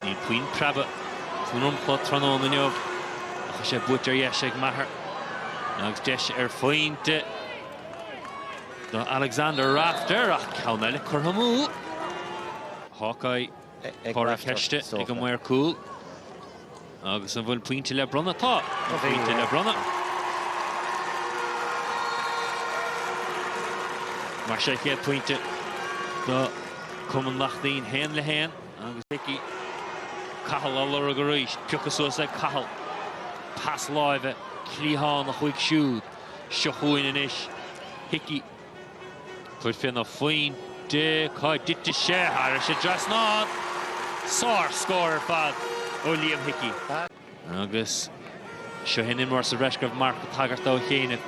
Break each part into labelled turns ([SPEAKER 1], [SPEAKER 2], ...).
[SPEAKER 1] Níl puinn preaba sa ndromchla tráthnóna inniu ach tá sé buaite ar dheis ag Maher agus deis ar phointe do Alexander Rafter ach ceann eile curtha amú. Hawkeye comhartha ceiste ag an maor cúil agus an bhfuil pointe le bronnadh? Tá pointe le bronnadh. Mar sin chéad pointe do Chumann Lachtaín haon le haon. Agus Hickey. Cathal á lorg arís. Pioctha suas ag Cathal. Pas láimhe cliathánach chuig siúd. Seo chugainn anois Hickey. Tabhairt féna phointe cá dtitfidh sé. Thairis an dtrasnán. Sár scór ar fad ó Liam Hickey. Agus seo shin imreoir sa bhreis go raibh Marc ag tagairt dó ó chianaibh.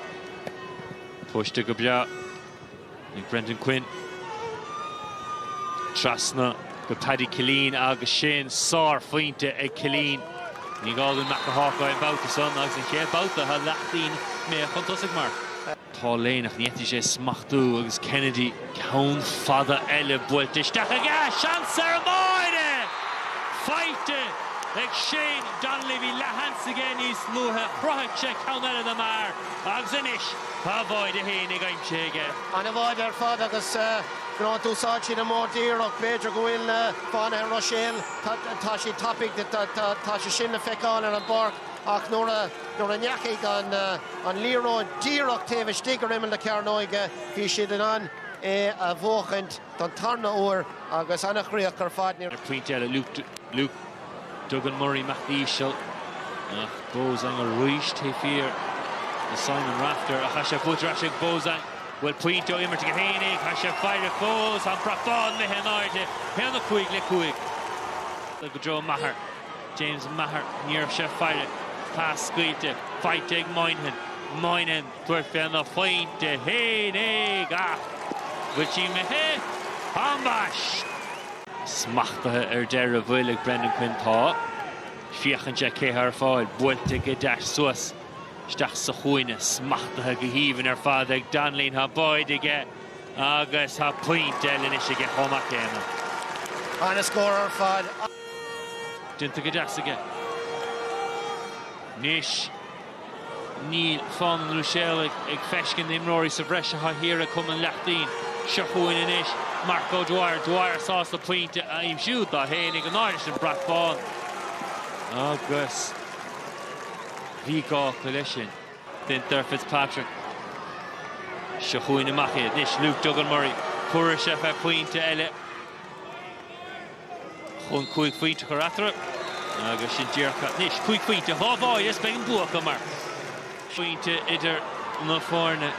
[SPEAKER 1] Póiste go breá ag Brendan Quinn. Trasna go Paddy Killeen agus sin sárphointe ag Killeen. Ní gá dúinn bac le Hawkeye an babhta san agus an chéad babhta atá Lachtaín imithe chun tosaigh mar. Paul Lane ach ní fhéadfadh sé smachtú agus Kennedy ceann fada eile buailte isteach aige. Seans ar an mbáide! Faighte ag Shane Donnelly. Bhí leathsheans aige níos luaithe. Chruthaigh sé ceann eile do Maher agus anois tá a bháide féinig aimsithe aige. An-bháide ar
[SPEAKER 2] fad agus you know d'úsáid siad an modh díreach. B'fhéidir go bhfuil Fánaithe Ruiséil, tá siad tapaidh, tá sé sin le feiceáil ar an bpáirc. Ach nuair a nuair a ndeachaigh an an liathróid díreach taobh istigh ar imeall na cearnóige, bhí siad in ann é a bhuachaint don tarna uair agus ana chríoch ar fad. Níor. Pointe eile
[SPEAKER 1] Luke Duggan Murray amach íseal ach Beausang arís taobh thiar de Simon Rafter ach tá sé buaite ar ais ag Beausang. Bhfuil pointe ó imirt aige féinig tá sé ag faire fós an brat bán imithe in airde, 1 5 le 5 i dtreo Maher. James Maher, Ní raibh sé ag faire pas scaoilte faighte ag Moynihan. Moynihan, Tabhairt féna phointe féinig ach an bhfuil sí imithe? Tá ambaist! Smachtaithe ar deireadh bhuel ag Brendan Quinn. Tá. Féachann sé cé tá ar fáil. Buailte go deas suas isteach sa chúinne. Smachtaithe go haoibhinn ar fad ag Donnelly. Tá báide aige. agus tá pointe eile anois aige chomh maith céanna. Ana scór
[SPEAKER 2] ar
[SPEAKER 1] fad. Déanta go deas aige. Anois níl Fánaithe an Ruiséil ag feiscint na n-imreoirí sa bhreis atá thiar ag Cumann Lachtaín. Seo chugainn anois Mark O'Dwyer. Dwyer sásta pointe a aimsiú dó féinig in airde leis an brat bán agus bhí gá acu leis sin. Baintear Fitzpatrick. Seo chugainn amach iad anois Luke Duggan Murray. Cuireadh sé fé phointe eile chun cúig phointe a chur eatarthu agus sin déarfá anois cúig phointe, dhá bháire is beidh an bua acu mar phointe idir na foirne.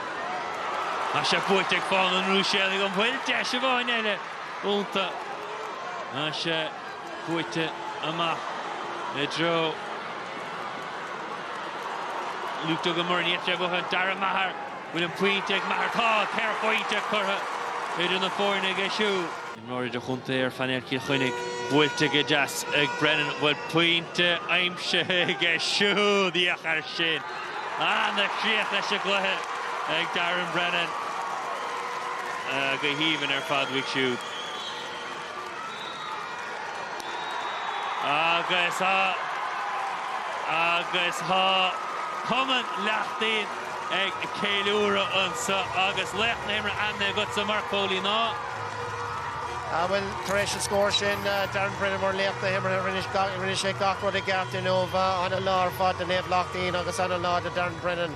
[SPEAKER 1] Tá sé buaite ag Fánaithe an Ruiséalaigh, an bhfuil deis amháin eile iontu. Tá sé. Buailte amach i dtreo Luke Duggan Murray in íochtar, á bhuachan Darragh Maher. Bhfuil an pointe ag Maher? Tá! Ceithre phointe curtha idir na foirne aige siúd. Imreoir idirchontae ar phainéal Chill Chainnigh buailte go deas ag Brennan. Bhfuil pointe aimsithe aige siúd? Féach air sin! An-chríoch leis an gcluiche ag Darren Brennan. Go haoibhinn ar fad uaidh siúd. Agus tá Cumann Lachtaín ag ceiliúradh anseo agus laoch na himeartha ainmnithe agatsa, Mark Foley,
[SPEAKER 2] ná? Ah bhuel, tar éis an scóir sin, Darren Brennan mar laoch na himeartha, rinne sé gach rud i gceart inniu. Ana lá ar fad do Naomh Lachtaín agus ana lá do Darren Brennan.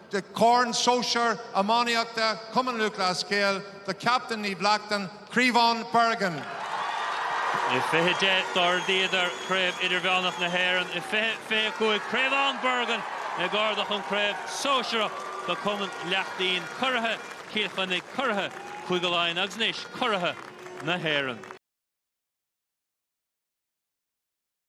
[SPEAKER 3] de Chorn Sóisear Iománaíochta Chumann Lúthchleas Gael do Chaptaein Naomh Lachtaín, Criomhthann Bergin.
[SPEAKER 1] I 2010 d'ardaíodar Craobh Idirmheánach na hÉireann, i 2025 Criomhthann Bergin ag ardach an Craobh Sóisearach do Cumann Lachtaín Curaithe Chill Chainnigh, Curaithe Chúige Laighean agus anois Curaithe na hÉireann.